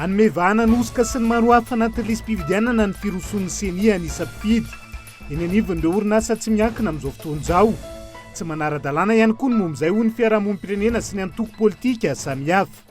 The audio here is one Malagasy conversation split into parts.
Hanome vahana ny hosoka sy ny maro hafa anatin'ny lisi-pifidianana ny firosoan'ny ceni an'isa mpifidy. Eny anivon'ireo orinasa tsy miankina amin'izao fotoana izao. Tsy manara-dalàna ihany koa ny momba izay hoy ny fiarahamonim-pirenena sy ny antoko politika samihafa.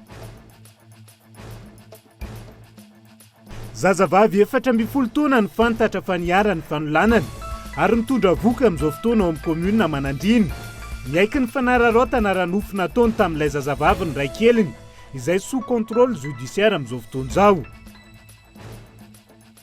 Zazavavy efatra ambin'ny folo taona no fantatra fa niharan'ny fanolanana ary mitondra vohoka amin'izao fotoana ao amin'ny kaominina Manandriana. Niaiky ny fanararaotana ara-nofo nataony tamin'ilay zazavavy ny raikeliny, izay sous contrôle judiciaire amin'izao fotoana izao.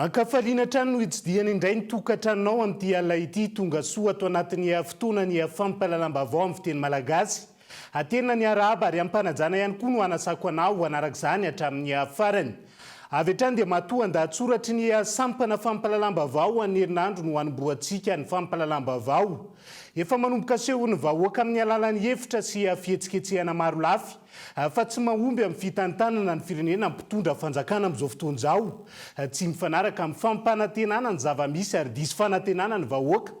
Ankafaliana hatrany no hitsidihana indray ny tokantranonao amin'ity alina ity. Tongasoa ato anatin'ny fotoanan'ny fampahalalam-baovao amin'ny fiteny malagasy. Hatena ny arahaba ary am-panajana ihany koa no hanasako anao hanaraka izany hatramin'ny farany. Avy hatrany dia matoan-dahatsoratry ny sampana fampahalalam-baovao ho an'ny herinandro no hanombohantsika ny fampahalalam-baovao. Efa manomboka asehon'ny vahoaka amin'ny alalan'ny efitra sy fihetsiketsehana maro lafy fa tsy mahomby amin'ny fitantanana ny firenena ny mpitondra fanjakana amin'izao fotoana izao. Tsy mifanaraka amin'ny fampanantenana ny zava-misy ary diso fanantenana ny vahoaka.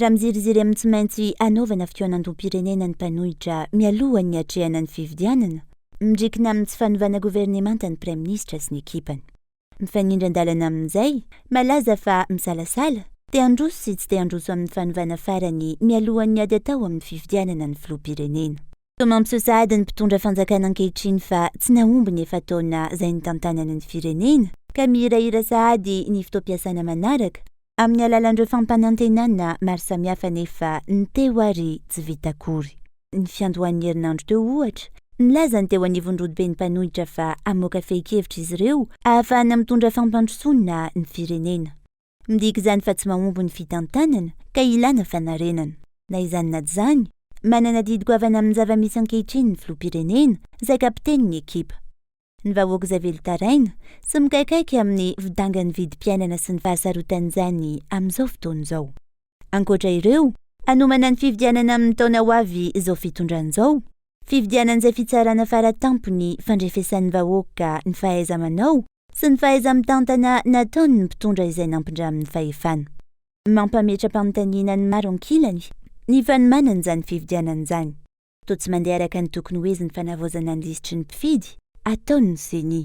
raha miziriziry amin'ny tsy maintsy hanaovana fikaonandoham-pirenena ny mpanohitra mialohan'ny hiatrehana ny fifidianana, midrikina amin'ny tsy fanovana governemanta ny Praiminisitra sy ny ekipany. Mifanindran-dalana amin'izay, malaza fa misalasala, te handroso sy tsy te handroso amin'ny fanovana farany mialohan'ny ady atao amin'ny fifidianana ny Filoham-pirenena. Toa mampiseho sahady ny mpitondra fanjakana ankehitriny fa tsy nahomby ny efa-taona izay nitantanany ny firenena ka mihirahira sahady ny fotoam-piasana manaraka amin'ny alalan'ireo fampanantenana maro samihafa nefa ny teo ary tsy vita akory. Ny fiandohan'ny herinandro teo ohatra, nilaza ny teo anivon'ny rodoben'ny mpanohitra fa hamoaka fehin-kevitra izy ireo ahafahana mitondra fampandrosoana ny firenena. Midika izany fa tsy mahomby ny fitantanana ka ilana fanarenana. Na izany na izany, manana adidy goavana amin'ny zava-misy ankehitriny ny filoham-pirenena, izay kapitenin'ny ekipa. Ny vahoaka izay velon-taraina sy mikaikaika amin'ny fidangan'ny vidim-piainana sy ny fahasarotan'izany amin'izao fotoana izao. Ankoatra ireo, hanomana ny fifidianana amin'ny taona ho avy izao fitondrana izao, fifidianana izay fitsarana fara tampony fandrefesan'ny vahoaka ny fahaiza-manao sy ny fahaiza-mitantana nataon' ny mpitondra izay nampindramin' ny fahefana. Mampametra-panontaniana ny maro ankilany ny fanomanan' izany fifidianana izany, toa tsy mandeha araka ny tokony ho izy ny fanavaozana ny lisitry ny mpifidy ataon' ny Ceni.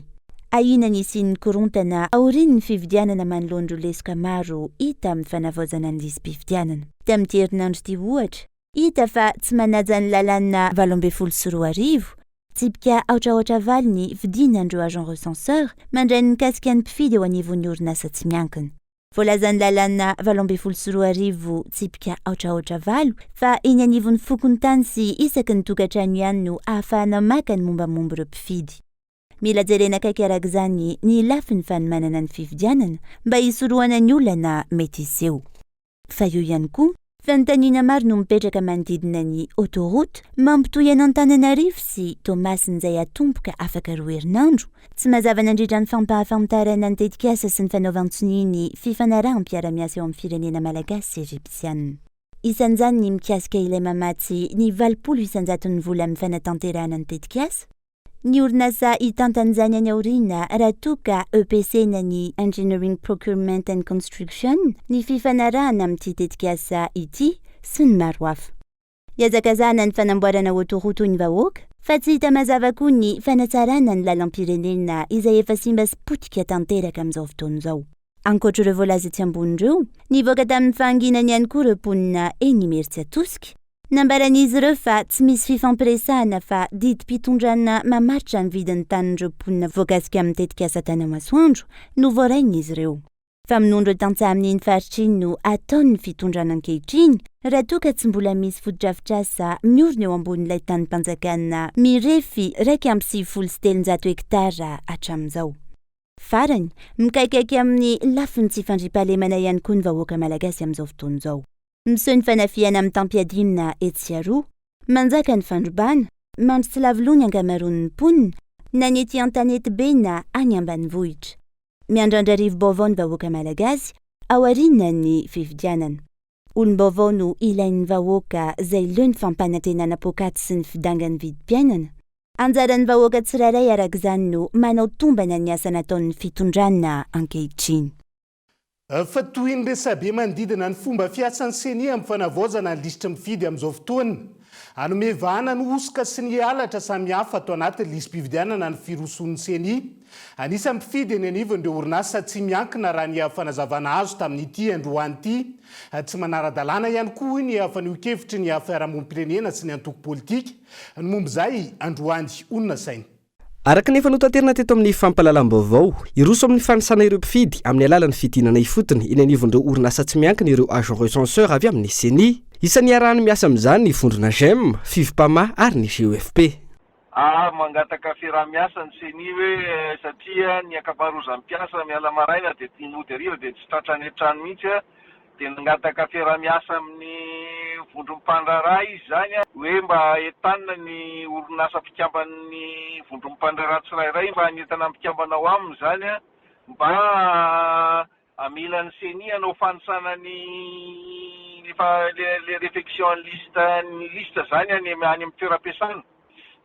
Ahiana ny hisian' ny korontana aorian' ny fifidianana manoloan' ireo lesoka maro hita amin' ny fanavaozana ny lisi-pifidianana. Tamin' ity herinandro ity, ohatra, Hita fa tsy manaja ny lalàna valo ambin'ny folo sy roa arivo, tsipika aotraotra valo ny fidiny an'ireo agents recenseurs mandray ny mikasika ny mpifidy eo anivon'ny orinasa tsy miankina. Voalazan'ny lalàna valo ambin'ny folo sy roa arivo, tsipika aotraotra valo, fa eny anivon'ny fokontany sy isaky ny tokantrano ihany no ahafahana maka ny mombamomba ireo mpifidy. Mila jerena akaiky araka izany ny lafiny fanomanana ny fifidianana mba hisorohana ny olana mety hiseho. Fa eo ihany koa, fanontaniana maro no mipetraka manodidina ny autoroute mampitohy an'Antananarivo sy Toamasina izay hatomboka afaka roa herinandro. Tsy mazava nandritra ny fampahafantarana ny tetikasa sy ny fanaovan-tsonia ny fifanaraham-piarahamiasa eo amin'ny firenena malagasy sy ejipsianina. Isan'izany ny mikasika ilay mamatsy ny valopolo isan-jaton'ny vola amin'ny fanatanterahana ny tetikasa. Ny orinasa hitantana izany any aoriana raha toa ka EPC-na ny Engineering Procurement and Construction, ny fifanarahana amin'ity tetikasa ity sy ny maro hafa. Iazakazahana ny fanamboarana autoroute hoy ny vahoaka fa tsy hita mazava koa ny fanatsarana ny lalam-pirenena izay efa simba sy potika tanteraka amin'izao fotoana izao. Ankoatra ireo voalaza etsy ambony ireo, nivoaka tamin'ny fahanginany ihany koa ireo mponina eny Imerintsiatosika, Nambaran'izy ireo fa tsy misy fifampiresahana fa didim-pitondrana mamaritra ny vidin'ny tanin'ireo mponina voakasika amin'ny tetikasa Tany Masoandro no voarain'izy ireo. Fa minondro tantsaha amin'iny faritra iny no ataon'ny fitondrana ankehitriny raha toa ka tsy mbola misy fotodrafitrasa miorina eo ambonin'ilay tanim-panjakana mirefy iraika amby sivifolo sy telonjato hektara hatramin'izao. Farany, mikaikaika amin'ny lafiny tsy fandriampahalemana ihany koa ny vahoaka malagasy amin'izao fotoana izao. Miseho ny fanafihana mitam-piadiana etsy sy aroa. Manjaka ny fandrobana, mampitsilavy loha ny ankamaroan' ny mponina, na ny ety an-tanety be na any ambanivohitra. Miandrandra rivo-baovao ny vahoaka malagasy aorianan' ny fifidianana. Olom-baovao no ilain' ny vahoaka izay leo ny fampanantenana poakaty sy ny fidangan' ny vidim-piainana. Anjaran' ny vahoaka tsirairay araka izany no manao tombana ny asa nataon' ny fitondrana ankehitriny. Fa toy ny resabe manodidina ny fomba fiasan'ny Ceni amin'ny fanavaozana ny lisitry ny mpifidy amin'izao fotoana. Hanome vahana ny hosoka sy ny halatra samihafa ato anatin'ny lisi-pifidianana ny firosoan'ny Ceni. Anisan'ny mpifidy eny anivony ireo orinasa tsy miankina raha ny fanazavana azo tamin'ity androany ity. Tsy manara-dalàna ihany koa hoy ny fanehoan-kevitry ny fiarahamonim-pirenena sy ny antoko politika ny momba izay androany hoy ny nasainy. Araka ny efa notaterina teto amin'ny fampahalalam-baovao, hiroso amin'ny fanisana ireo mpifidy amin'ny alalan'ny fidinana ifotony eny anivon'ireo orinasa tsy miankina ireo agents recenseurs avy amin'ny Ceni. Isan'ny iarahany miasa amin'izany ny vondrona Gem, Fivpama ary ny GEFP. A, Mangataka fiaraha-miasa ny Ceni hoe satria ny ankamaroazan'ny mpiasa miala maraina dia mody hariva dia tsy tratra any an-trano mihitsy. Dia nangataka fiaraha-miasa amin'ny vondron'ny mpandraharaha izy izany hoe mba entanina ny orinasa mpikamban'ny vondron'ny mpandraharaha tsirairay mba hanentana ny mpikambana ao aminy izany mba hamela ny ceni hanao fanisana ny efa le refection ny liste ny liste izany any amin'ny toeram-piasana.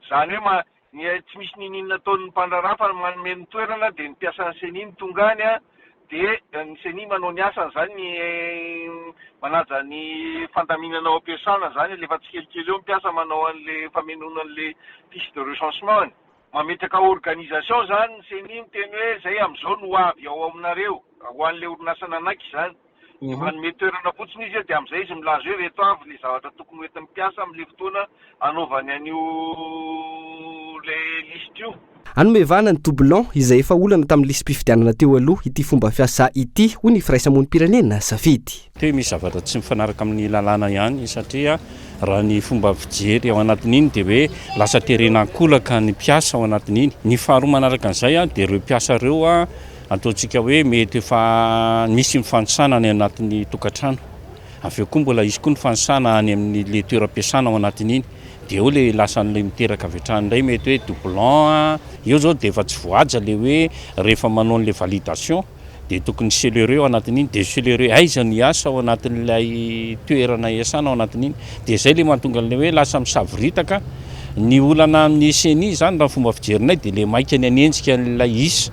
Izany hoe Ny tsy misy ninin nataon'ny mpandraharaha fa manome ny toerana dia ny mpiasan'ny ceni no tonga any an, dia ny ceni manao ny asany izany ny manaja ny fandaminana ao am-piasana izany alefa tsikelikely eo ny mpiasa manao an'le famenoana an'le fiche de recensement ny mametraka organisation izany ny ceni miteny hoe izay amin'izao no ho avy ao aminareo ho an'le orinasa nanaiky izany. Manome toerana fotsiny izy dia amin'izay izy milaza hoe ireto avy ny zavatra tokony ho entin'ny mpiasa amin'ilay fotoana anaovany an'io ilay lisitra io. Hanome vahana ny doublon izay efa olana tamin'ny lisi-pifidianana teo aloha ity fomba fiasa ity, hoy ny firaisamonim-pirenena safidy. Te misy zavatra tsy mifanaraka amin'ny lalàna ihany satria raha ny fomba fijery ao anatin'iny dia hoe lasa terena an-kolaka ny mpiasa ao anatin'iny. Ny faharoa manaraka an'izay dia ireo mpiasa ireo Antontsika hoe mety efa nisy ny fanisana any anatin'ny tokantrano, avy eo koa mbola hisy koa ny fanisana any amin'ilay toeram-piasana ao anatin'iny, dia eo ilay lasa an'ilay miteraka avy hatrany indray, mety hoe doublon a, eo izao dia efa tsy voahaja ilay hoe rehefa manao an'ilay validation dia tokony celerer ao anatin'iny, dia celerer aiza ny hiasa ao anatin'ilay toerana iasana ao anatin'iny, dia izay ilay mahatonga an'ilay hoe lasa misavoritaka, ny olana amin'ny ceni izany raha ny fomba fijerinay dia ilay maika ny hanenjika an'ilay isa.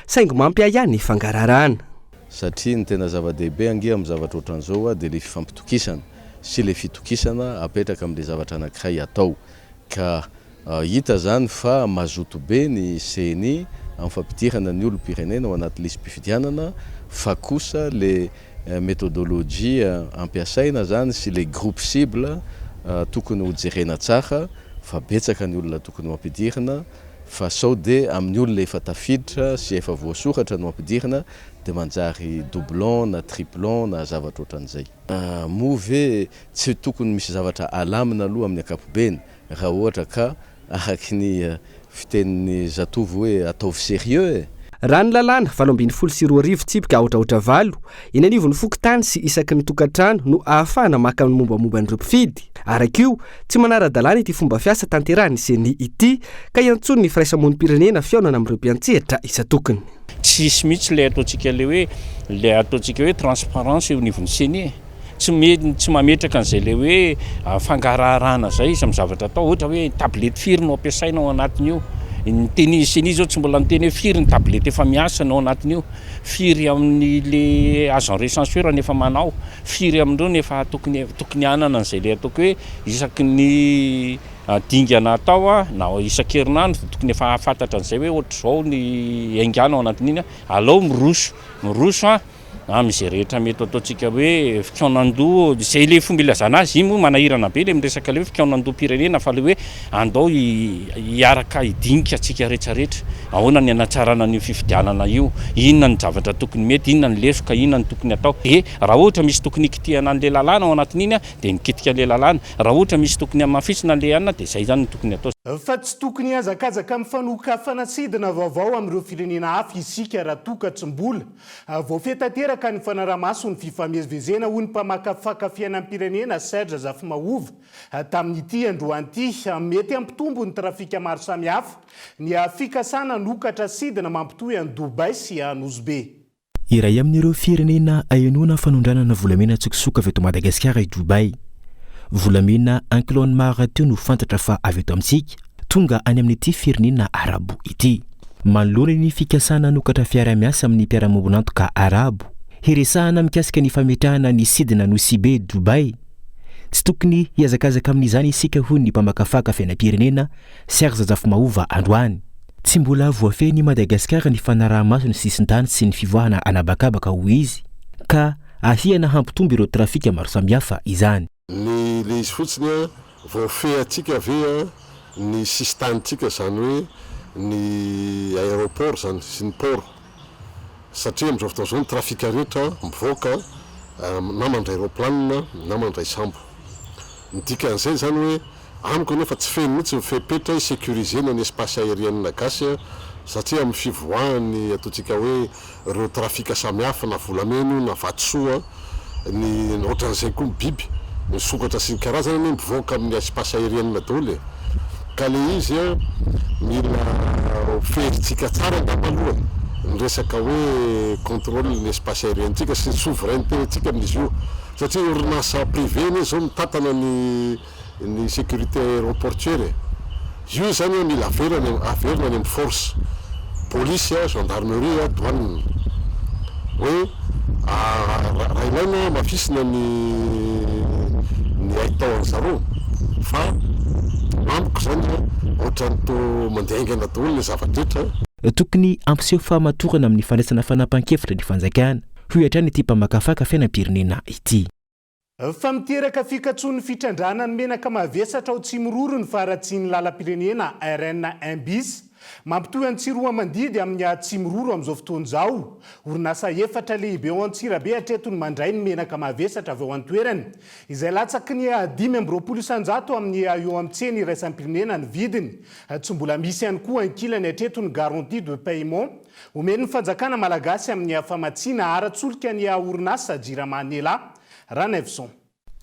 Saingy mampiahiahy ny fangaraharahana. Satria ny tena zava-dehibe ange amin'ny zavatra ohatran'izao dia ilay fifampitokisana sy ilay fitokisana apetraka amin'ilay zavatra anankiray hatao. Ka hita izany fa mazoto be ny ceni amin'ny fampidirana ny olom-pirenena ao anaty lisi-pifidianana fa kosa ilay methodologie ampiasaina izany sy ilay groupe cible tokony hojerena tsara fa betsaka ny olona tokony ho ampidirina Fa sao de amin'ny olona efa tafiditra sy efa voasoratra no ampidirina de manjary doublon na triplon na zavatra ohatran'izay. Moa ve tsy tokony misy zavatra alamina aloha amin'ny ankapobeny raha ohatra ka araky ny fitenin'ny zatovo hoe ataovy sérieux e! Raha ny lalàna valo ambin'ny folo sy roa arivo tsipika aotraotra valo Eny anivon'ny fokontany sy isaky ny tokantrano no ahafahana maka ny mombamomba an'ireo mpifidy. Araka io, tsy manara-dalàna ity fomba fiasa tanterahin'ny Ceni ity, ka iantsoan'ny firaisamonim-pirenena fihaonana amin'ireo mpiantsehatra isan-tokony. Tsy hisy mihitsy ilay ataontsika ilay hoe, ilay ataontsika hoe transparence eo anivon'ny Ceni e! Tsy mety, tsy mametraka an'izay ilay hoe fangaraharahana izay izy amin'ny zavatra atao. Ohatra hoe tablette firy no ampiasaina ao anatin'io? Ny Ceni izao tsy mbola niteny hoe firy ny tablette efa miasa ny ao anatin'io. Firy amin'ny le azo en recensure no efa manao? Firy amin'ireo no efa tokony tokony hanana an'izay le ataoko hoe isaky ny dingana atao na isan-kerinandro dia tokony efa hahafantatra an'izay hoe ohatr'izao ny haingana ao anatin'iny a! Alao miroso, miroso a! amin'izay rehetra mety ho ataontsika hoe fikaonan-doha, izay le fomba ilazana azy, iny moa manahirana be le miresaka le hoe fikaonan-doham-pirenena fa le hoe Andao hiaraka hidinika antsika retraretra, ahoana ny hanatsarana an'io fifidianana io, inona ny zavatra tokony mety, inona ny lesoka, inona ny tokony atao. Dia raha ohatra misy tokony hikitihana an'ilay lalàna ao anatin'iny aho dia mikitika an'ilay lalàna, raha ohatra misy tokony hamafisina an'ilay anona dia izay izany no tokony atao. Fa tsy tokony hihazakazaka amin'ny fanokafana sidina vaovao amin'ireo firenena hafa isika raha toa ka tsy mbola voafehy tanteraka ny fanaraha-maso ny fifamezivezena, hoy ny mpamakafaka fiainam-pirenena Serge Zafimahova. Tamin'ity androany ity, mety hampitombo ny trafika maro samihafa ny fikasana hanokatra sidina mampitohy an'i Dubai sy an'i Nosy-Be. Iray amin'ireo firenena ahenoana fanondranana volamena an-tsokosoko avy eto Madagasikara i Dubai. Volamena an-kilaon'ny maha rahateo no fantatra fa avy eto amintsika, tonga any amin'ity firenena Arabo ity. Manoloana ny fikasana hanokatra fiaraha-miasa amin'ny mpiara-miombon'antoka Arabo, hiresahana mikasika ny fametrahana ny sidina Nosy-Be Dubai, Tsy tokony hihazakazaka amin'izany isika hoy ny mpamakafaka fiainam-pirenena, Serge Zafimahova androany. Tsy mbola voafehin'i Madagasikara ny fanaraha-maso ny sisin-tany sy ny fivoahana an'habakabaka hoy izy, ka ahiana hampitombo ireo trafika maro samihafa izany. Ny le izy fotsiny an, voafehantsika ve an ny sisin-tanintsika, izany hoe ny aéroport izany sy ny port. satria amin'izao fotoana izao ny trafika rehetra mivoaka na mandray raoplanina na mandray sambo. Ny dikan'izay izany hoe amiko aloha fa tsy feno mihitsy ny fepetra hi-securiser-na ny espace aérienne gasy satria amin'ny fivoahan'ny ataontsika hoe ireo trafika samihafa na volamena io na vatosoa ny ohatran'izay koa ny biby, ny sokatra sy ny karazany anie mivoaka amin'ny espace aérienne daholo e! ka le izy an mila ho feherintsika tsara angamba aloha ny resaka hoe contrôle ny espace aérienne-tsika sy ny souveraineté-ntsika amin'izy io satria orinasa privé anie zao mitantana ny ny sécurité aéroportuaire e! io zany an mila averana averina any amin'ny force police an, gendarmerie an, douane hoe raha ilaina hamafisina ny ny haitao an'i zareo fa amiko zany an ohatran'ny toa mandeha haingana daholo le zava-drehetra. Tokony hampiseho fahamatorana amin'ny fandraisana fanapahan-kevitra ny fanjakana, hoy hatrany ity mpamakafaka fiainam-pirenena ity. Fa miteraka fikatsoan'ny fitrandrahana ny menaka mavesatra ao Tsimiroro ny faharatsian'ny lalam-pirenena RN un bis mampitohy an'i Tsiroamandidy amin'ny Tsimiroro amin'izao fotoana izao. Orinasa efatra lehibe ao Antsirabe hatreto no mandray ny menaka mavesatra avy ao an-toerana, izay latsaky ny dimy amby roapolo isanjato amin'ny eo amin'ny tsena iraisam-pirenena ny vidiny. Tsy mbola misy ihany koa ankilany hatreto ny garantie de paiement. Omen'ny fanjakana malagasy amin'ny hafamatsiana ara-tsolika ny orinasa Jirama Nela, Ranaivoson.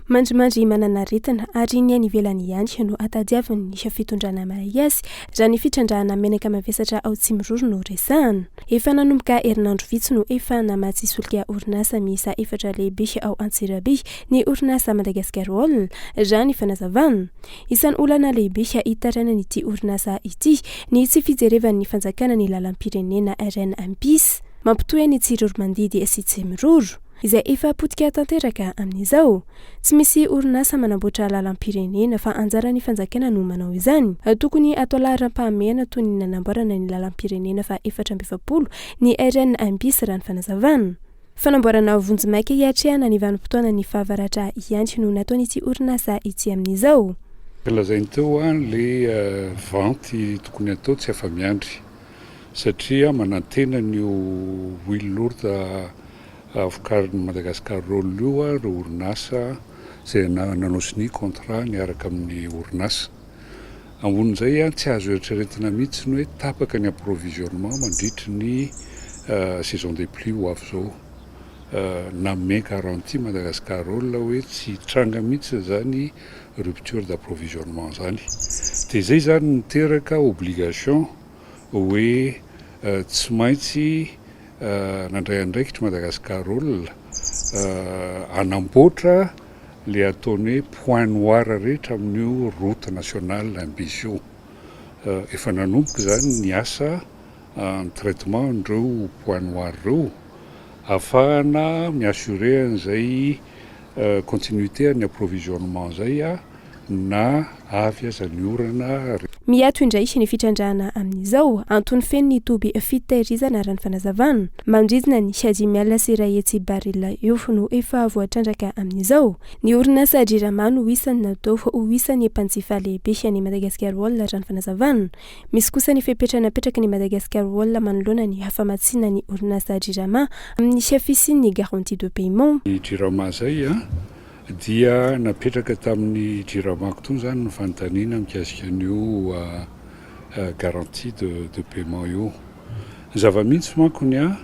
Mandrimandry mananaretina ary ny any ivelany ihany no hatadiaviny ny fitondrana mahay azy raha ny fitrandrahana menaka mavesatra ao Tsimiroro no resahana. Efa nanomboka herinandro vitsy no efa namatsy solika orinasa miisa efatra lehibe ao Antsirabe ny orinasa Madagascar Oil raha ny fanazavana. Isan'ny olana lehibe hitarainany ity orinasa ity ny tsy fijerevan'ny fanjakana ny lalam-pirenena RNMPIS mampitohy ny Tsiroromandidy sy Tsimiroro, izay efa potika tanteraka amin'izao. Tsy misy orinasa manamboatra lalam-pirenena fa anjaran'ny fanjakana no manao izany. Tokony atao laharam-pahamehana toy ny nanamboarana ny lalam-pirenena faha efatra amby efapolo ny RNMPIS raha ny fanazavana. Fanamboarana vonjimaika hiatrehana ny vanim-potoanan'ny fahavaratra ihany no nataon'ity orinasa ity amin'izao. Lazainy teo hoa le vente tokony atao tsy afa-miandry satria manantena an'io huile lourde vokarin'i Madagascar Roll io ireo orinasa izay nanao sonia contrat niaraka amin'ny orinasa. Ambonin'izay ihany, tsy azo eritreretina mihitsy ny hoe tapaka ny approvisionnement mandritry ny saison des pluies ho avy izao. Nanome garantie Madagascar Oil hoe tsy hitranga mihitsy izany rupture d'approvisionnement izany. Dia izay izany niteraka obligation hoe tsy maintsy nandray andraikitra Madagascar Oil hanamboatra le ataony hoe point noir rehetra amin'io route nationale imbizy io. Efa nanomboka izany ny asa ny traitement an'ireo point noir ireo afahana mi-assurer an'izay continuité an'ny approvisionnement izay. na avy aza ny orana ary. Miato indray ny fitrandrahana amin'izao. Antony feno ny toby fitahirizana raha ny fanazavana. Manodidina ny Asie Miala sy iray hetsy baril eo no efa voatrandraka amin'izao. Ny orinasa Jirama no isan'ny natao ho isan'ny mpanjifa lehibe an'i Madagascar Oil raha ny fanazavana. Misy kosa ny fepetra napetrak'i Madagascar Oil manoloana ny famatsiana ny orinasa Jirama amin'ny fisian'ny garantie de paiement. Ny Jirama izay. Dia napetraka tamin'ny Jiramaco tony izany ny fanontaniana mikasika an'io garantie de de paiement io. Ny zava-mitsy manko ny ahy,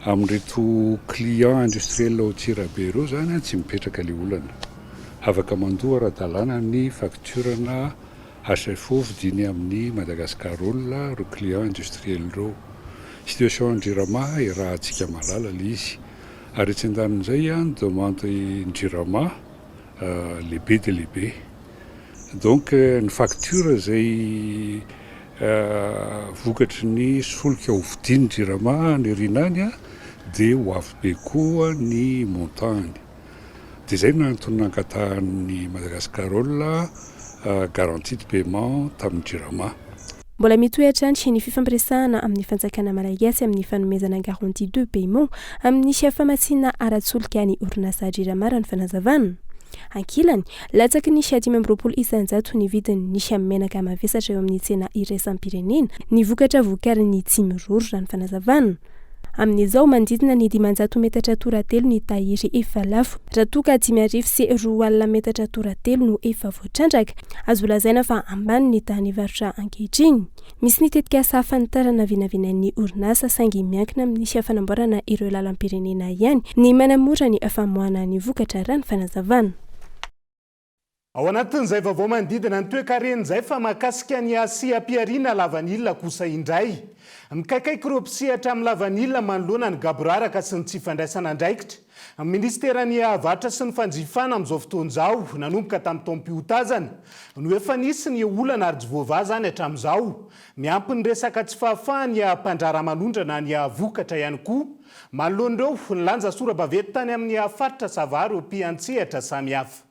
amin'ireto clients industriels ao Antsirabe ireo izany tsy mipetraka ilay olana. Afaka mandoa ara-dalàna ny facture na HFO vidiany amin'ny Madagascar Oil ireo clients industriels ireo. Situation an'i Jirama iarahantsika malala ilay izy. Ary etsy an-danin'izay, ny demande ny jirama lehibe dia lehibe. Donc ny facture izay vokatry ny solika hovidian'ny jirama any aoriana any dia ho avy be koa ny montant-ny. Dia izay no antony nankatahan'ny Madagascarol garantie de paiement tamin'ny Jirama. Mbola mitohy hatrany ny fifampiresahana amin'ny fanjakana malagasy amin'ny fanomezana garantie de paiement amin'ny famatsiana ara-tsolika ny orinasa Jirama raha ny fanazavana. Ankilany, latsaky ny dimy amby roapolo isanjato ny vidin'ny menaka mavesatra eo amin'ny tsena iraisam-pirenena ny vokatra vokarin'ny Tsimiroro raha ny fanazavana. Amin'izao, manodidina ny dimanjato metatra toratelo ny tahiry efa lafo, raha toa ka dimy arivo sy roa alina metatra toratelo no efa voatrandraka. Azo lazaina fa ambany ny tahan'ny varotra ankehitriny. Misy ny tetikasa fanitarana vinavinain'ny orinasa, saingy miankina amin'ny fanamboarana ireo lalam-pirenena ihany ny manamora ny famoahana ny vokatra, raha ny fanazavana. Ao anatin'izay vaovao manodidina ny toekareny izay fa mahakasika ny hasiam-pihariana lavanila kosa indray. Mikaikaika ireo mpisehatra amin'ny lavanila manoloana ny gaboraraka sy ny tsy fandraisana andraikitra. Ny minisiteran'ny Varotra sy ny fanjifana amin'izao fotoana izao, nanomboka tamin'ny taom-pihotazana, no efa nisy ny olana ary tsy voavaha izany hatramin'izao. Miampy ny resaka tsy fahafahan'ny mpandraharaha manondrana ny vokatra ihany koa Manoloan'ireo, nilanja sora-baventy tany amin'ny faritra Sava ireo mpiantsehatra samihafa.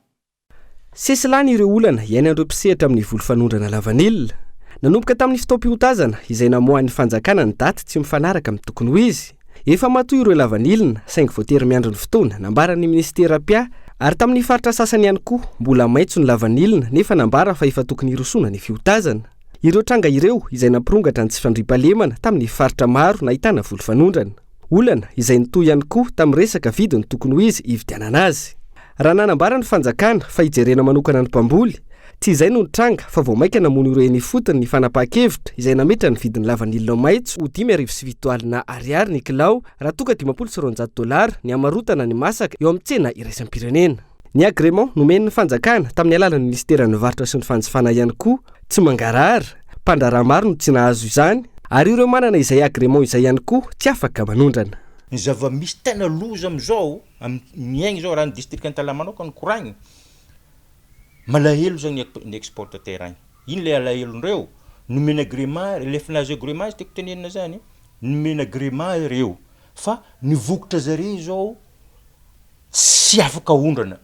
Sesilany ireo olana iainan'ireo mpisehatra amin'ny voly fanondrana lavanila. Nanomboka tamin'ny fotoam-piotazana izay namoahan'ny fanjakana ny daty tsy mifanaraka amin'ny tokony ho izy. Efa matoy ireo lavanilina saingy voatery miandry ny fotoana nambaran'ny minisitera mpia ary tamin'ny faritra sasany ihany koa mbola maitso ny lavanilina nefa nambara fa efa tokony hirosoana ny fiotazana. Ireo tranga ireo izay nampirongatra ny tsy fandriampahalemana tamin'ny faritra maro nahitana voly fanondrana. Olana izay nitohy ihany koa tamin'ny resaka vidiny tokony ho izy hividianana azy. Raha nanambara ny fanjakana fa hijerena manokana ny mpamboly, tsy izay no nitranga fa vao mainka namono ireo eny ifotony ny fanapahan-kevitra izay nametra ny vidin'ny lavanila maitso ho dimy arivo sy fito alina ariary ny kilao raha toa ka dimampolo sy roanjato dolara ny hamarotana ny masaka eo amin'ny tsena iraisam-pirenena. Ny agrément nomen'ny fanjakana tamin'ny alalan'ny minisiteran'ny varotra sy ny fanjifana ihany koa tsy mangarahara, mpandraharaha maro no tsy nahazo izany ary ireo manana izay agrément izay ihany koa tsy afaka manondrana. Ny zava-misy tena loza amin'izao amin'ny miaigna izao raha ny distrika Antalaha manokana no koragny, malahelo zany ny exportateurs any, ino le alahelondreo? Nomena agrément, le efa nahazo agrément izy tiako tenenina zany, nomena agrément ireo fa ny vokatra zareo zao, Tsy afaka aondrana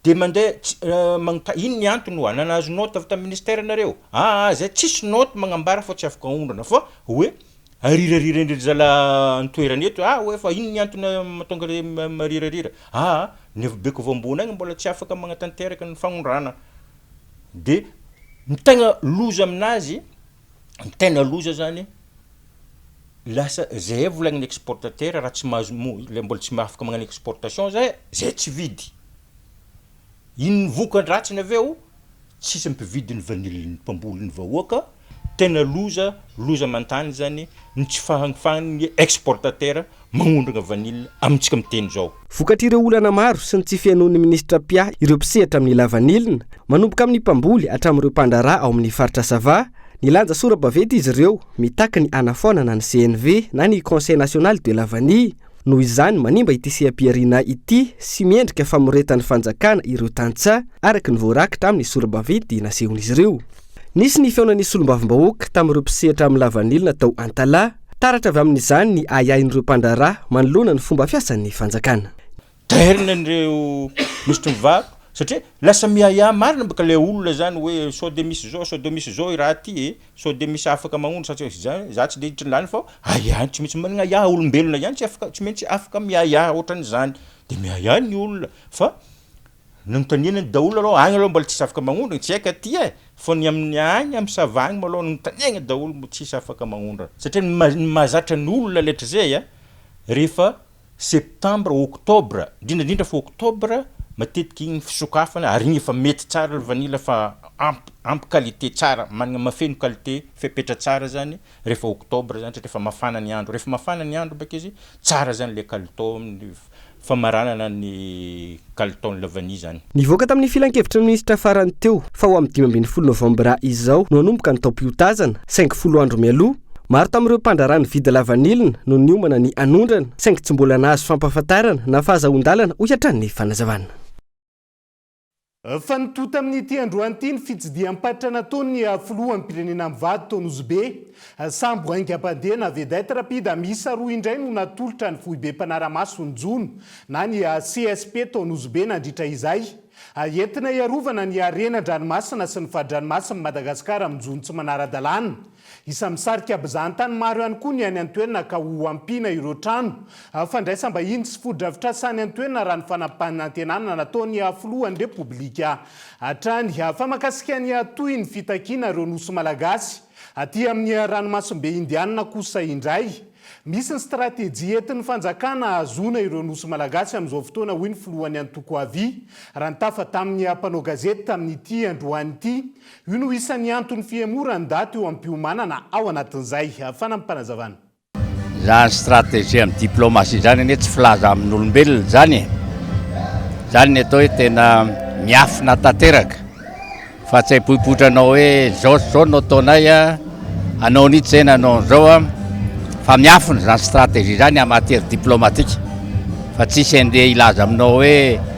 de mandeha tsy magnotany inn ny antony oa na nahazo note avy tam ministère nareo aa zay tsisy note magnambara fa tsy afaka aondrana fa oe arirariran-dry zala antoerana eto aa oe fa inn ny antony matonga re marirarira aa ny avy beko avy ambony agny mbola tsy afaka magnatanteraka ny fagnondrana de ny tegna loza aminazy ny tena loza zany lasa zay volagn'ny exportateur raha tsy mahazo mo- le mbola tsy afaka magnano exportation zay zay tsy vidy inon'ny voka-dratsiny avy eo tsisy mpividy ny vanille ny mpamboly ny vahoaka tena loza loza aman-tany zany ny tsy fahafahan'ny exportateur magnondrana vanille amintsika miteny izao. Vokatr'ireo olana maro sy ny tsy fihainoan'ny minisitra Pia ireo mpisehatra amin'ny lavanilina, manomboka amin'ny mpamboly hatramin'ireo mpandraharaha ao amin'ny faritra Sava, nilanja sora-baventy izy ireo mitaky ny hanafoanana ny CNV na ny Conseil National de la Vanille, noho izany manimba ity seha-pihariana ity sy miendrika famoretan'ny fanjakana ireo tantsaha, araka ny voarakitra amin'ny sora-baventy nasehon'izy ireo. Nisy ny fihaonan'ny solombavambahoaka tamin'ireo mpisehatra amin'ny lavanilina tao Antalaha. Taratra avy amin'izany ny ahiahin'ireo mpandraharaha manoloana ny fomba fiasan'ny fanjakana. Tairina ireo minisitry ny varo satria lasa miahiahy marina baka ilay olona izany hoe sao dia misy izao, sao dia misy izao i raha ity e, sao dia misy afaka magnondro sa tsy misy izany, za tsy dia hiditra an'ilany fa ahiahy tsy maintsy managna ahiahy, olombelona ihany tsy afaka, tsy maintsy afaka miahiahy ohatran'izany, dia miahiahy ny olona fa Nanontaniana ny daholo aloha, agny aloha mbola tsisy afaka magnondrana, tsy haiko aty e, fa ny amin'ny agny amin'ny sava agny malôha nanontaniagna daholo mbo tsisy afaka magnondrana, satria ny maha ny mahazatra ny olona letrizay a rehefa septambra oktobra, indrindra indrindra fa oktobra matetika igny ny fisokafana ary igny efa mety tsara le vanila fa ampy ampy qualité tsara managna mahafeno qualité fepetra tsara zany rehefa oktobra zany satria efa mafana ny andro, rehefa mafana ny andro baka izy tsara zany le kalitao amin'ny famaranana ny kalitaon'ilay vania izany. Nivoaka tamin'ny filankevitry ny minisitra farany teo fa ho amin'ny dimy ambin'ny folo novambra izao no hanomboka ny taom-piotazana, saingy folo andro mialoha, maro tamin'ireo mpandraharaha nividy lavanilina no niomana ny hanondrana, saingy tsy mbola nahazo fampahafantarana na fahazahoan-dalana, hoy hatrany ny fanazavana. Fa nitohy tamin'ity androany ity ny fitsidiham-paritra nataon'ny filoham-pirenena amin'ny vady tao Nosy Be. Sambo haingam-pandeha na vedette rapide miisa roa indray no natolotra ny foibe mpanara-maso ny jono na ny CSP tao Nosy Be nandritra izay. Entina hiarovana ny harena an-dranomasina sy ny fadrinomasin'i Madagasikara amin'ny jono tsy manara-dalàna. Isan'ny misarika mpizahan-tany maro ihany koa ny any an-toerana ka ho ampiana ireo trano fandraisam-bahiny sy fotodrafitrasa any an-toerana raha ny fanapanantenana nataon'ny Filohan'ny Repoblika hatrany fa mankasika ny hatohy ny fitakiana ireo Nosy Malagasy aty amin'ny Ranomasimbe Indianina kosa indray misy ny stratejia entin'ny fanjakana hahazoana ireo Nosy Malagasy amin'izao fotoana hoy ny Filohan'ny Antoko Avia raha nitafa tamin'ny mpanao gazety tamin'ity androany ity Io no isan'ny anton'ny fihemora ndaty eo am-piomanana ao anatin'izay. Fanampim-panazavana. Izany stratégie amin'ny diplomatie izany anie tsy filaza amin'olombelona izany e! Izany ny atao hoe tena miafina tanteraka fa tsy haipoipoitra anao hoe izao sy izao no ataonay a, anao an'itsy izay na anao an'izao a, fa miafina izany stratégie izany en matière diplomatique fa tsisy andeha hilaza aminao hoe.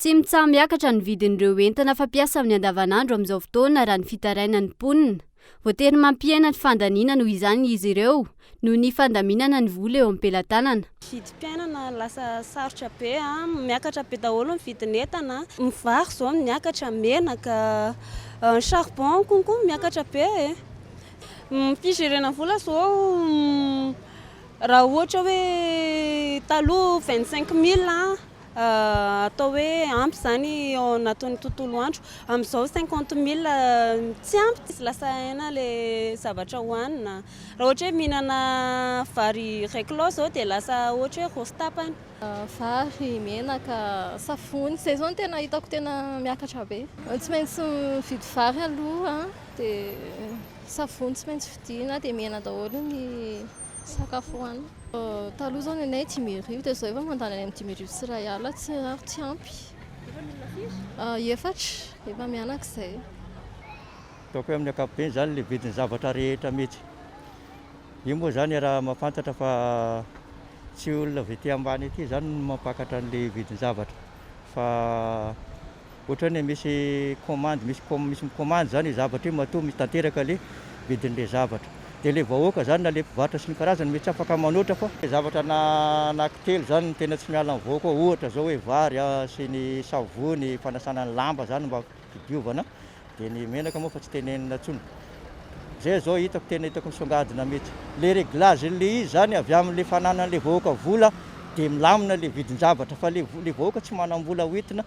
Tsy mitsaha-miakatra ny vidin'ireo entana fampiasa amin'ny andavanandro amin'izao fotoana raha ny fitarainan'ny mponina. Voatery mampihena ny fandaniana noho izany izy ireo noho ny fandaminana ny vola eo am-pelatanana. Vidim-piainana lasa sarotra be, miakatra be daholo ny vidin'entana, ny vary izao miakatra, menaka, ny charbon konko miakatra be e! Ny fijerena vola izao raha ohatra hoe taloha vingt cinq mille. atao hoe ampy izany ao anatin'ny tontolo andro. Amin'izao cinquante mille tsy ampy, tsy lasa aina ilay zavatra hohanina. Raha ohatra hoe mihinana vary iray kilao izao dia lasa ohatra hoe roa sy tapany. Vary, menaka, savony, izay izao no tena hitako tena miakatra be. Tsy maintsy mividy vary aloha, dia savony tsy maintsy vidiana, dia mihena daholo ny. Sakafo hohanina. Taloha izao ny anay dimy arivo dia izao efa mandany any amin'ny dimy arivo sy iray alina tsiraro tsy ampy. Efa mianana firy? Efatra, efa mianaka izay. Ataoko hoe amin'ny ankapobeny izany ilay vidin'ny zavatra rehetra mety. Io moa izany raha mahafantatra fa tsy olona avy aty ambany aty izany no mampakatra an'ilay vidin'ny zavatra fa. ohatrany hoe misy commande, misy com, misy mi-commande zany le zavatra io matoa misy tanteraka le vidin'le zavatra. De le vahoaka zany na le mpivarotra sy ny karazany mety tsy afaka manoatra fa. Le zavatra na anaky telo zany no tena tsy miala amin'ny vahoaka ao ohatra zao hoe vary a, sy ny savony fanasana ny lamba zany mba fidiovana. Dia ny menaka moa efa tsy tenenina intsony. Izay izao hitako tena hitako misongadina mihitsy. Ilay réglage an'ilay izy izany avy amin'ilay fananan'ilay vahoaka vola dia milamina ilay vidin-javatra fa ilay ilay vahoaka tsy manam-bola hoentina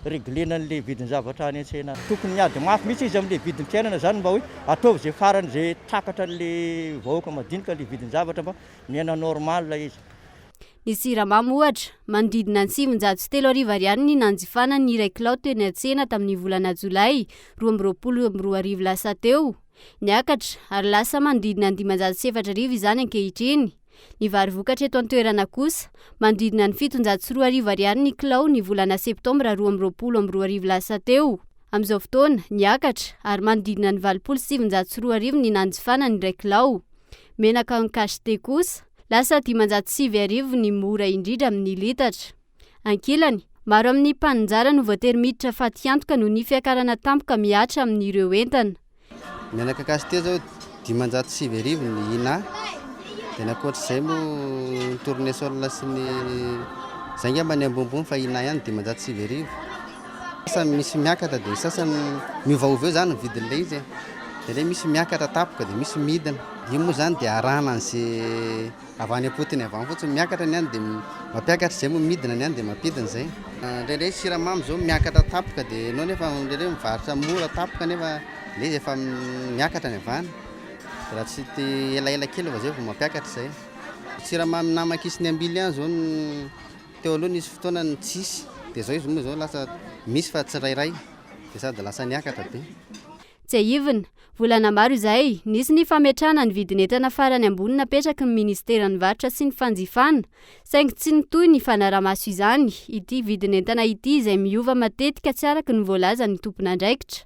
reglena an'ilay vidin-javatra any an-tsena any. Tokony miady mafy mihitsy izy amin'ilay vidim-piainana izany mba hoe ataovy izay farany izay takatran'ilay vahoaka madinika ilay vidin-javatra mba miaina normal izy. Ny siramamy, ohatra, manodidina ny sivinjato sy telo arivo ariary ny nanjifana ny iray kilao teny an-tsena tamin'ny volana jolay roa amby roapolo amby roa arivo lasa teo. Niakatra, ary lasa manodidina ny dimanjato sy efatra arivo izany ankehitriny. Ny vary vokatra eto an-toerana kosa, manodidina ny fitonjato sy roa arivo ariary ny kilao ny volana septambra roa amby roapolo amby roa arivo lasa teo. Amin'izao fotoana, niakatra, ary manodidina ny valopolo sy sivinjato sy roa arivo ny nanjifana ny iray kilao. Menaka en cachet kosa, Lasa dimanjato sivy arivo ny mora indridra amin'ny litatra. Ankilany, maro amin'ny mpaninjara no voatery miditra fatiantoka noho ny fiakarana tampoka mihatra amin'ireo entana. Ny anà cacahuète zao dimanjato sivy arivo ny inà, dia ny ankoatr'izay moa ny tournesol sy ny, zay ngamba ny ambonimbony fa inà ihany dimanjato sivy arivo. Sasany misy miakatra dia ny sasany miovaova eo izany ny vidin'ilay izy e. Dia ilay misy miakatra tapoka dia misy midina. Io moa izany dia arahana an'izay avy any am-potony avy any fotsiny. Miakatra ny any dia mampiakatra izay moa midina ny any dia mampidina izay. Indraindray ny siramamy izao miakatra tapoka dia ianao nefa indraindray mivarotra mora tapoka nefa ilay izy efa miakatra ny avy any. Dia raha tsy te elaela kely vao izay vao mampiakatra izay. Siramamy namak'isy ny ambily ihany izao no. Teo aloha nisy fotoana ny tsisy dia zao izy moa zao lasa misy fa tsirairay dia sady lasa niakatra be. Tsiahivina, volana maro izay, nisy ny fametrahana ny vidin'entana farany ambony napetraky ny Ministeran'ny Varotra sy ny Fanjifana, saingy tsy nitohy ny fanarahamaso izany, ity vidin'entana ity izay miova matetika tsy araka ny voalazan'ny tompon'andraikitra.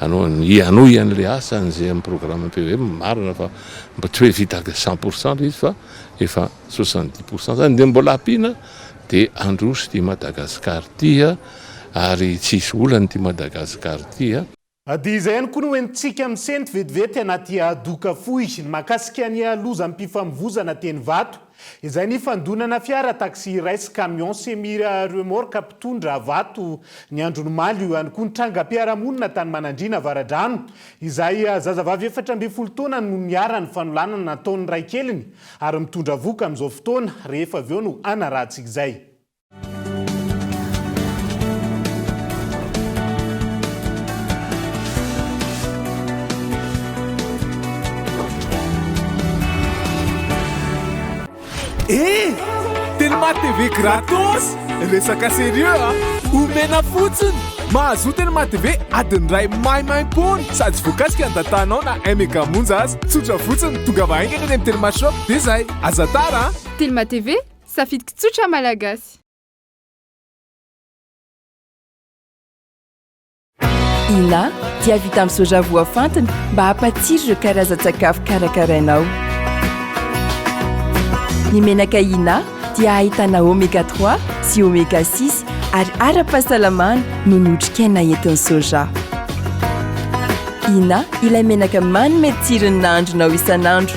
anao hanohy an'ilay asany izay amin'ny programme PVM, marina fa mba tsy hoe vita cent pour cent ilay izy fa efa soixante dix pour cent izany dia mbola ampiana dia handroso ity Madagascar ity ary tsy hisy olana ity Madagascar ity. Dia izay ihany koa no entintsika misento vetivety anaty doka fohy ny mahakasika ny lozam-pifamovoizana teny Ivato. izay nifandonana fiara taxi iray sy camion semi remorque mpitondra vato ny andron'ny omaly. Io ihany koa ny trangam-piarahamonina tany Manandriana Avaradrano izay zazavavy efatra ambin'ny folo taona no niharan'ny fanolanana nataon'ny raikeliny ary mitondra vohoka amin'izao fotoana rehefa avy eo no hanarahantsika izay. TV gratos resaka sérieux a ah. omena fotsiny mahazoa tena maha TV adiny ray maimaim-pony sady voakasika ny datanao na mega monja azy tsotra fotsiny tonga vahaingana ny amin'ny telemashop dia izay aza tara ah. telema TV Safidiko tsotra Malagasy. Ina dia vita amin'ny soja voafantina mba hampatsiro ireo karazan-tsakafo karakarainao. Ny menaka Ina dia ahitana oméga 3 sy oméga 6 ary ara-pahasalamana noho ny otrikaina entin'ny soja. Ina ilay menaka manome tsiro ny nahandronao isan'andro.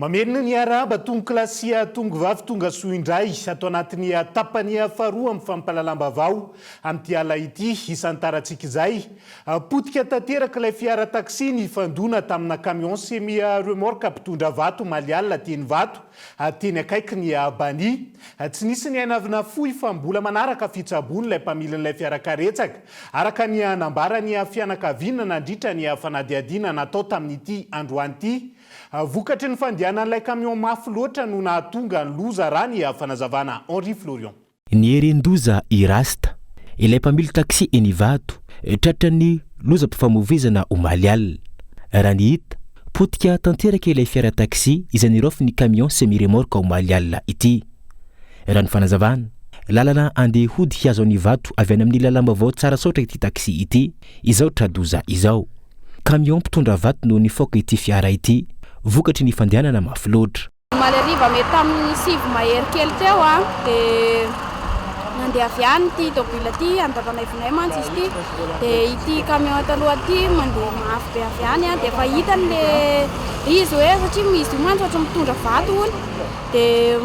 Mamerina ny hiarahaba tonoklasy tongovavy tonga soa indray ato anatin'ny tapany faharoa amin'ny fampahalalam-baovao amin'ity alina ity. Hisantarantsika izay. Potika tanteraka ilay fiara taxi nifandona tamina camion semi remorque mpitondra vato omaly alina teny Ivato. Teny akaiky ny Albanie. Tsy nisy ny aina avy nafoy fa mbola manaraka fitsaboana ilay mpamilin'ilay fiarakaretsaka, araka ny nambaran'ny fianakaviana nandritra ny fanadihadiana natao tamin'ity androany ity. Vokatry ny fandehanan'ilay camion mafy loatra no nahatonga ny loza, raha ny fanazavana Henri Florion. Nieren-doza i Rasta, ilay mpamily taxi eny Ivato, tratran'ny lozam-pifamoivoizana omaly alina. Raha ny hita, potika tanteraka ilay fiara taxi izay niraofin'ny camion semi-remorque omaly alina ity. Raha ny fanazavana, lalana andeha hody hihazo an'Ivato avy any amin'ny lalam-baovao Tsarasaotra ity taxi ity, izao tra-doza izao. Camion mpitondra vato no nifaoka ity fiara ity, vokatry ny fandehanana mafy loatra. Omaly hariva mety tamin'ny sivy mahery kely teo dia nandeha avy any ity tôbila ity, any Tavanaivinay mantsy izy ity, dia ity camion eto aloha ity mandeha mafy be avy any dia efa hitany ilay izy hoe satria izy io mantsy ohatran'ny mitondra vato hono dia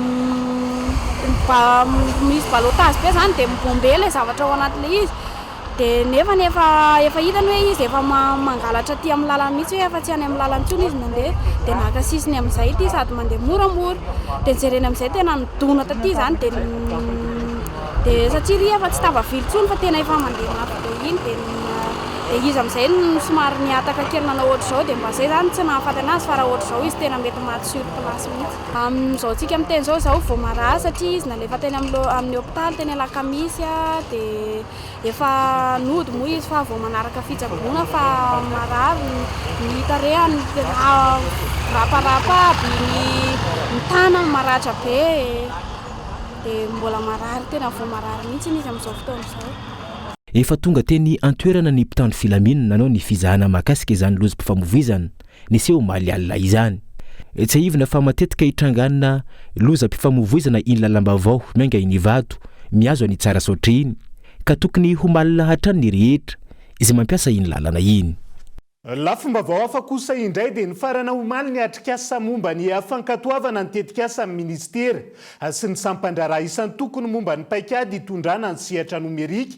misy balotage be izany dia mi-bomber ilay zavatra ao anatin'ilay izy. Dia nefany efa efa hitany hoe izy efa mangalatra aty amin'ny lalana mihitsy hoe afa tsy any amin'ny lalana intsony izy mandeha dia naka sisiny amin'izay ity sady mandeha moramora dia jereny amin'izay tena nidona taty izany dia dia satsia ry efa tsy tafavily intsony fa tena efa mandeha mafy be iny dia dia izy amin'izay no somary nihataka kely nanao ohatr'izao dia mba izay izany tsy nahafaty anazy fa raha ohatr'izao izy tena mety maty sur place mihitsy Amin'izao antsika miteny izao, izaho vao marary satria izy nalefa teny amin'ny hopitaly teny alakamisy dia efa nody moa izy fa vao manaraka fitsaboana fa marary ny tarehany tena miraparapa aby, ny tanany maratra be e! dia mbola marary tena vao marary mihitsy izy amin'izao fotoana izao. Efa tonga teny an-toerana ny mpitandro filaminana nanao ny fizahana mahakasika izany lozim-pifamovoizana. niseho omaly alina izany. Tsiahivina fa matetika itranganina lozam-pifamoivoizana iny lalam-baovao miainga iny vato mihazo an'i Tsarasaotra iny, ka tokony ho malina hatrany ny rehetra izay mampiasa iny lalana iny. Lafim-baovao hafa kosa indray dia nifarana omaly ny atrikasa momba ny fankatoavana ny tetikasan'ny minisitera sy ny sampan-draharaha isan-tokony momba ny paikady hitondrana ny sehatra nomerika,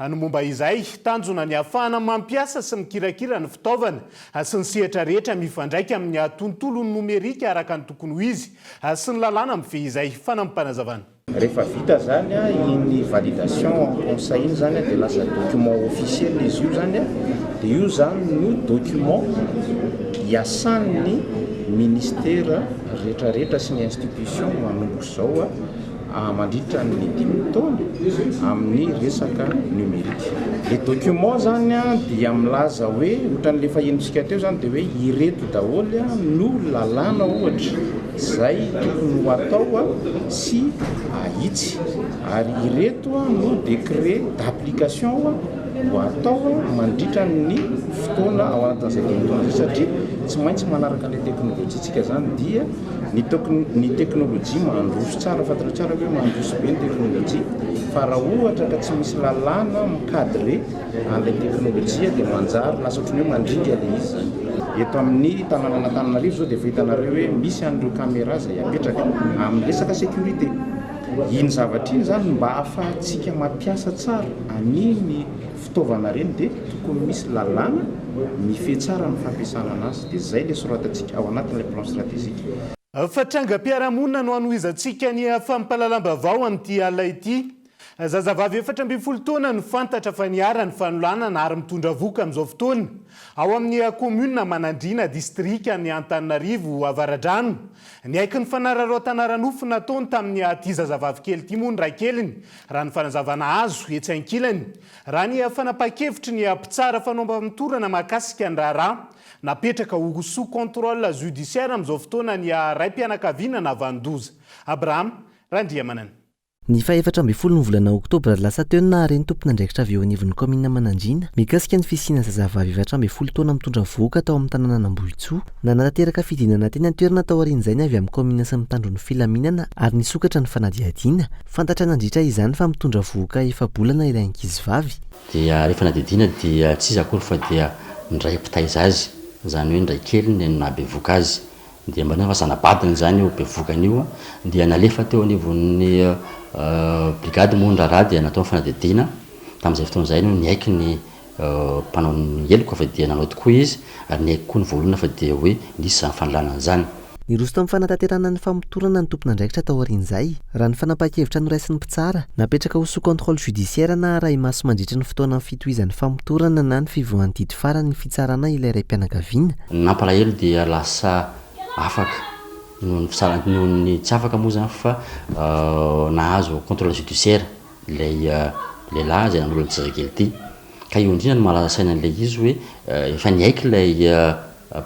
Ny momba izay, tanjona ny hahafahana mampiasa sy mikirakira ny fitaovana sy ny sehatra rehetra mifandraika amin' ny tontolon'ny nomerika araka ny tokony ho izy sy ny lalàna mifehy izay. Fanampim-panazavana. Rehefa vita izany iny validation en conseil iny izany dia lasa document officiel izy io izany dia io izany no document iasan'ny ministera rehetrarehetra sy ny institution manomboka izao mandritra ny dimy taona amin'ny resaka numérique. Le document zany dia milaza hoe ohatran'le efa henontsika teo zany dia hoe ireto daholo no lalàna ohatra izay tokony ho atao sy ahitsy ary ireto no décret d'application ho atao mandritra ny fotoana ao anatin'izay dimy taona izay satria tsy maintsy manaraka le teknolojia tsika zany dia Ny teknolojia mandroso tsara, fantatrao tsara ve mandroso be ny teknolojia fa raha ohatra ka tsy misy lalàna mi-cadre an'ilay teknolojia dia manjary lasa ohatran'ny hoe mandringa ilay izy izany. Eto amin'ny tanànan'Antananarivo izao dia efa hitanareo hoe misy an'ireo caméra izay apetraka amin'ny resaka sécurité. Iny zavatra iny izany mba ahafahantsika mampiasa tsara an'iny fitaovana ireny dia tokony misy lalàna mifehy tsara ny fampiasana anazy dia izay ilay soratantsika ao anatin'ilay plan strategique. Fa trangam-piarahamonina no hanohizantsika ny fampahalalam-baovao amin'ity alina ity. Zazavavy efatra ambin'ny folo taona no fantatra fa niharan'ny fanolanana ary mitondra vohoka amin'izao fotoana ao amin'ny kaominina Manandriana, distrikan'i Antananarivo Avaradrano. Niaiky ny fanararaotan'ara-nofo nataony tamin'ity zazavavy kely ity moa ny raikeliny Raha ny fanazavana azo etsy ankilany, raha ny fanapahan-kevitry ny mpitsara fanaovam-torana mahakasika ny raharaha, napetraka ho sous contrôle judiciaire amin'izao fotoana ny raim-pianakaviana navan-doza, Abraham Randriamanana. Ny fahefatra ambin'ny folo ny volana oktobra lasa teo no nahare ny tompon'andraikitra avy eo anivon'ny kaominina Manandriana mikasika ny fisiana zazavavy efatra ambin'ny folo taona mitondra vohoka tao amin'ny tanànan'Ambohitsoa. Nanatanteraka fidinana teny an-toerana taorian'izay ny avy amin'ny kaominina sy ny mpitandro ny filaminana ary nisokatra ny fanadihadiana. Fantatra nandritra izany fa mitondra vohoka efa-bolana ilay ankizivavy. Dia rehefa nadidiana dia tsy iza akory fa dia ndray mpitaiza azy, izany hoe ndray keliny no nahabevoka azy. Dia mba niova zana-badiny izany io bevokany io dia nalefa teo anivon'ny brigady moa ny raharaha dia natao ny fanadidiana, tamin'izay fotoana izay no niaiky ny mpanao ny heloko fa dia nanao tokoa izy, ary niaiky koa ny voaolana fa dia hoe nisy izany fanalana izany. Niroso tamin'ny fanatanterahana ny famotorana ny tompon'andraikitra taorian'izay, raha ny fanapahan-kevitra noraisin'ny mpitsara, napetraka ho sous contrôle judiciaire na arahi-maso mandritra ny fotoanan'ny fitohizan'ny famotorana na ny fivoahan'ny didy farany ny fitsarana ilay raim-pianakaviana. Ny nampalahelo dia lasa afaka noho ny fitsarana, noho ny tsy afaka moa izany fa nahazo contrôle judiciaire. Ilay lehilahy izay nanolo an'ity zazakely ity. Ka io indrindra no mahalaza saina an'ilay izy hoe efa niaiky ilay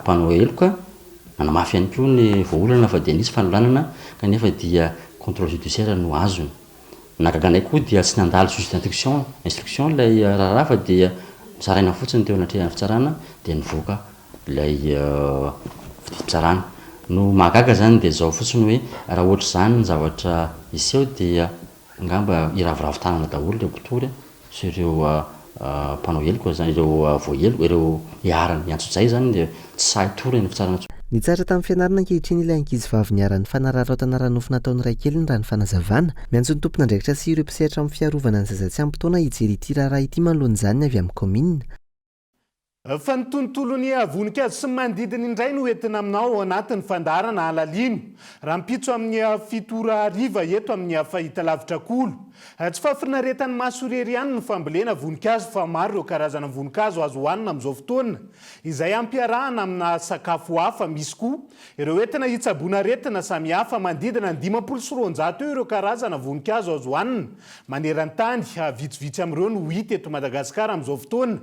mpanao heloka, nanamafy ihany koa ny voaolana fa dia nisy fanolanana kanefa dia contrôle judiciaire no azony. Ny nahagaga anay koa dia tsy nandalo juge d'instruction instruction ilay raharaha fa dia nosaraina fotsiny teo anatrehan'ny fitsarana dia nivoaka ilay fitsarana. No mahagaga izany dia izao fotsiny hoe raha ohatr'izany ny zavatra hiseho dia. Angamba hiraviravy tanana daholo ireo mpitory sy ireo mpanao heloka izany, ireo voaheloka, ireo iharan'ny antsojay izany dia tsy sahy hitory any fitsarana intsony. Nitsara tamin'ny fianarana ankehitriny ilay ankizivavy niharan'ny fanararaotana ara-nofo nataon'ny raikeliny raha ny fanazavana. Miantso ny tompon'andraikitra sy ireo mpisehatra amin'ny fiarovana ny zaza tsy ampy taona hijery ity raharaha ity manoloana izany ny avy amin'ny kaominina. Fa ny tontolon'ny voninkazo sy ny manodidina indray no entina aminao ao anatin'ny fandaharana Alalino rahampitso amin'ny fito ora hariva eto amin'ny Fahitalavitra Kolo. Tsy fahafinaretan'ny maso irery ihany ny fambolena voninkazo fa maro ireo karazana voninkazo azo hohanina amin'izao fotoana izay ampiarahana amina sakafo hafa. Misy koa Ireo entina hitsaboana aretina samihafa, manodidina ny dimampolo sy roanjato eo ireo karazana voninkazo azo hanina maneran-tany, vitsivitsy amin'ireo no hita eto Madagasikara amin'izao fotoana,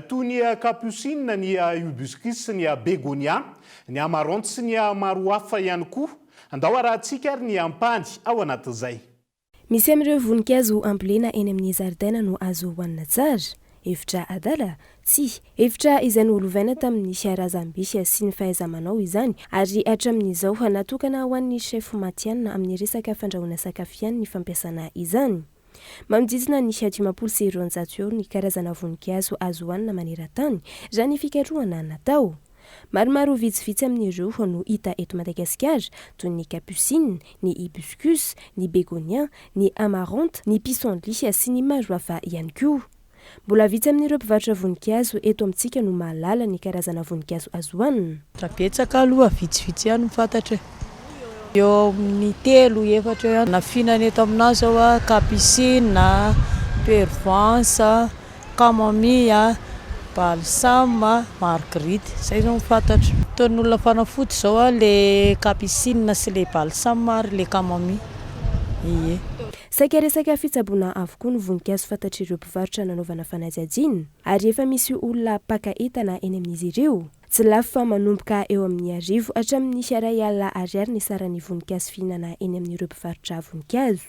toy ny kaposinina, ny hibiscus sy ny begonia, ny amaranth sy ny maro hafa ihany koa. Andao arahintsika ary ny ampahany ao anatin'izay. Misy amin'ireo voninkazo ambolena eny amin'ny zaridaina no azo hohanina tsara? Hevitra adala? Tsia. Hevitra izay nolovaina tamin'ny razambe sy ny fahaiza-manao izany, ary hatramin'izao natokana ho an'ny chef matihanina amin'ny resaka fandrahoana sakafo ihany ny fampiasana izany. Manodidina ny dimampolo sy roanjato eo ny karazana voninkazo azo hohanina maneran-tany, raha ny fikarohana natao. Maromaro vitsivitsy amin'ireo no hita eto Madagasikara, toy ny capucine, ny hibiscus, ny begonia, ny amarante, ny pissenlit sy ny maro hafa ihany koa. Mbola vitsy amin'ireo mpivarotra voninkazo eto amintsika no mahalala ny karazana voninkazo azo hohanina. Raha betsaka aloha vitsivitsy ihany ny fantatra e. Eo amin'ny telo, efatra eo ihany. Ny nafinana eto aminà izao, capucine, pervenche. camomille, balsame, marguerite. Izay izao no fantatro. Ataon'ny olona fanafody izao ilay capucine sy ilay balsame ary ilay camomille. Ie. Saika resaka fitsaboana avokoa ny voninkazo fantatr'ireo mpivarotra nanaovana fanajajiana ary efa misy olona mpaka entana eny amin'izy ireo. Tsy lafo fa manomboka eo amin'ny arivo hatramin'ny iray alina ariary ny saran'ny voninkazo fihinana eny amin'ireo mpivarotra voninkazo.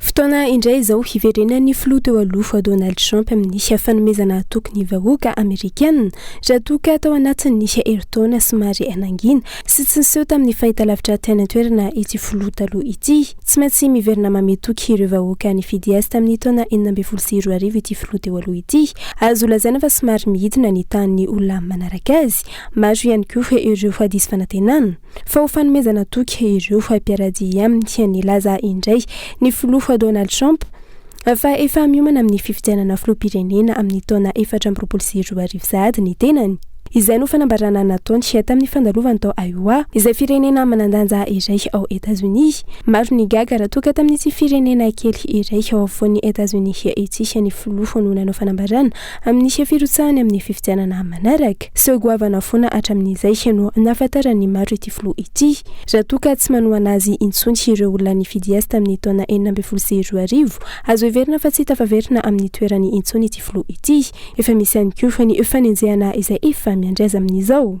Fotoana indray izao hiverenan'ny filoha teo aloha Donald Trump amin'ny fanomezana hatoky ny vahoaka Amerikana raha toa ka tao anatin'ny herintaona somary nangina sy tsy niseho tamin'ny fahitalavitra tany an-toerana ity filoha taloha ity. Tsy maintsy miverina mametoky ireo vahoaka nifidy azy tamin'ny taona enina ambin'ny folo sy roa arivo ity filoha teo aloha ity. Azo lazaina fa somary midina ny tahan'ny olona manaraka azy. Maro ihany koa ireo diso fanantenana. fa ho fanomezana toky ireo mpiaradia aminy. Nilaza indray ny filoha Donald Trump fa efa miomana amin'ny fifidianana filoham-pirenena amin'ny taona efatra amby roapolo sy roa arivo sahady ny tenany. Izay no fanambarana nataony tamin'ny fandalovany tao Iowa, izay firenena manan-danja iray ao Etazonia. Maro ny gaga raha toa ka tamin'ity firenena kely iray ao afovoan'i Etazonia ity ny filoha no nanao fanambarana Amin'ny firotsahany amin'ny fifidianana manaraka, seho goavana foana hatramin'izay no nahafantaran'ny maro ity filoha ity. Raha toa ka tsy manohana azy intsony ireo olona nifidy azy tamin'ny taona enina ambin'ny folo sy roa arivo, azo heverina fa tsy tafaverina amin'ny toerany intsony ity filoha ity. Efa misy ihany koa ny fanenjehana izay efa miandry azy amin'izao.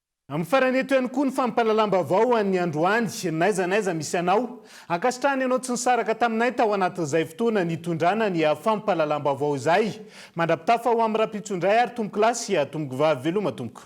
Amin'ny farany eto ihany koa ny fampahalalam-baovao ho an'ny androany, n'aiza n'aiza misy anao. Ankasitrahana ianao tsy nisaraka taminay tao anatin'izay fotoana nitondrana ny fampahalalam-baovao izay. Mandra-pitafa ho amin'ny rahampitso indray ary tompoko lahy sy tompoko vavy veloma tompoko.